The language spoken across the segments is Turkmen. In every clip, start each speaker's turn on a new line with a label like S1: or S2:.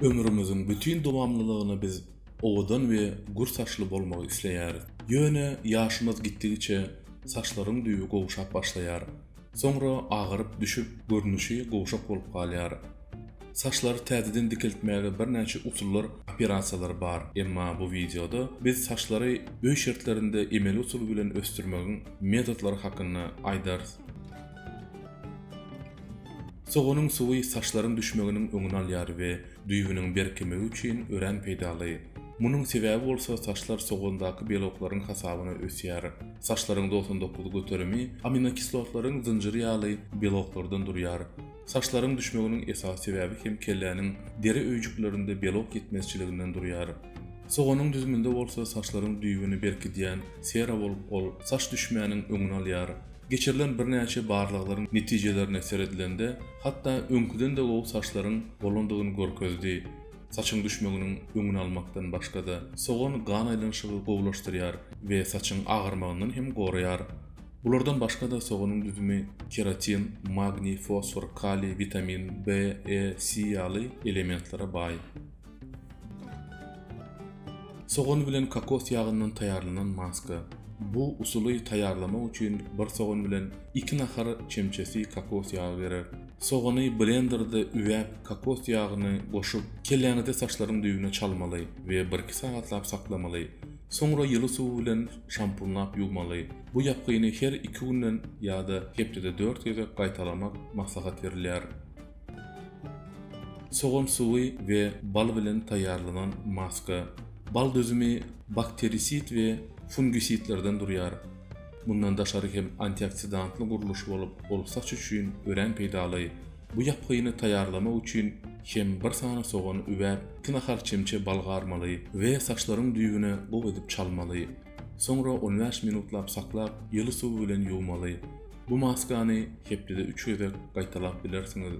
S1: Ömrümiziň bütin dowamlylygyny biz owadan we gür saçly bolmagy isleýäris. Ýöne ýaşymyz gitdigiçe saçlaryň düýbi gowşap başlaýar. Soňra agaryp düşüp, görnüşi gowşak bolup galýar. Saçlary täzeden dikeltmäge birnäçe usullar, operasiýalar bar. Emma bu wideoda biz saçlary öý şertlerinde emeli usul bilen ösdürmegiň metodlary hakynda aýdarys. Soganyň suwy saçlaryň düşmeginiň öňüni alýar we düýbüniň berkemegi üçin örän peýdaly. Munuň sebäbi bolsa saçlar sogandaky beloklaryň hasabyna ösýär. Saçlaryň togsan dokuz göterimi aminokislotlalaryň zynjyry ýaly beloklardan durýar. Saçlaryň düşmeginiň esasy sebäbi hem kelläniň deri öýjüklerinde belok ýetmezçiliginden durýar. Soganyň düzüminde bolsa saçlaryň düýbüni berkidýän sera bolup ol saç düşmäniň öňüni alýar. Geçirilen birnäçe barlaglaryň netijelerine seredilende, hatda öňküden-de gowy saçlaryň bolandygyny görkezdi. Saçyň düşmeginiň öňüni almakdan başga-da, sogan gan aýlanyşygy gowulaşdyrýar we saçyň agyrmagyndan hem goraýar. Bulardan başga-da soganyň düzümi keratin, magniý, fosfor, kaliý, witamin B, E, C ýaly elementlere baý. Sogan bilen kokos ýagyndan taýýarlanan maska. Bu usuly taýýarlamak üçin bir sogan bilen iki nahar çemçesi kokos ýagy gerek. Sogany blenderde üwäp, kokos ýagyny goşup, kelläňizi saçlaryň düýbüne çalmaly we birki sagatlap saklamaly. Soňra ýyly suw bilen şampunlap ýuwmaly. Bu ýapgyny her iki günden ýa-da hepdede dört gezek gaýtalamak maslahat berilýär. Sogan suwy we bal bilen taýýarlanan maska. Bal düzümi bakterisid we fungisidlerden durýar. Mundan daşary hem antioksidantly gurluş bolup, ol saç üçin örän peýdaly. Bu ýapgyny taýýarlamak üçin hem bir sany sogany üwäp, iki nahal çemçe bal garmaly we saçlaryň düýbüne gowy edip çalmaly. Soňra on bäş minutlap saklap, ýyly suw bilen ýuwmaly. Bu maskany hepdede üç gezek gaýtalap bilersiňiz.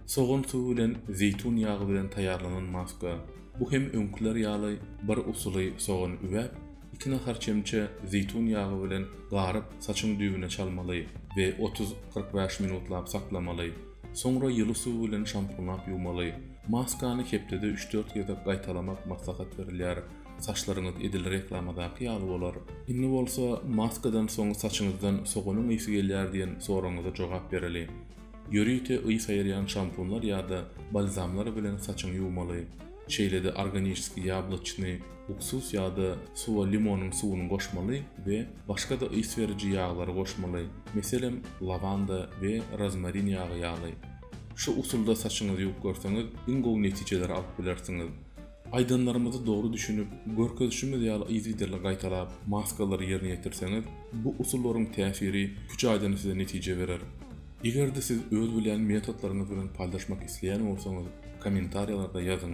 S1: Sogan suwy bilen zeýtun ýagy bilen taýýarlanan maska. Bu hem öňküler ýaly bir usuly sogan üwäp, iki nahar çemçe zeýtun ýagy bilen garyp saçyň düýbüne çalmaly we otuz, kyrk bäş minutlap saklamaly. Soňra ýyly suw bilen şampunlap ýuwmaly. Maskany hepdede üç-dört gezek gaýtalamak maslahat berilýär. Saçlaryňyz edil reklamadaky ýaly bolar. Indi bolsa maskadan soň saçyňyzdan soganyň ysy gelýär diýen soragyňyza jogap bereli. Ýörite ys aýyrýan şampunlar ýa-da balzamlar bilen saçyňy ýuwmaly. Şeýle-de organişskiý ýabloçnyý uksus ýa-da suwa limonyň suwuny goşmaly we başga-da ys beriji ýaglary goşmaly, meselem, lawanda we rozmarin ýagy ýaly. Şu usulda saçyňyzy ýuwup görseňiz, iň gowy netijeleri alyp bilersiňiz. Aýdanlarymyzy dogry düşünip, görkezişimiz ýaly yzygiderli gaýtalap, maskalary ýerine ýetirseňiz, bu usullaryň täsiri üç aýdan size netije berer. Eger-de siz öz bilýän metodlaryňyz bilen paýlaşmak isleýän bolsaňyz, kommentariýalarda ýazyň.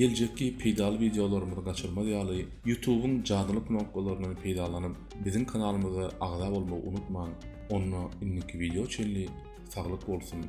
S1: Geljekki peýdaly wideolarymyzy gaçyrmaz ýaly, Ýutubyň jadyly knopkalaryndan peýdalanyp, biziň kanalymyza agza bolmagy unutmaň! Onda indiki wideo çenli saglyk bolsun!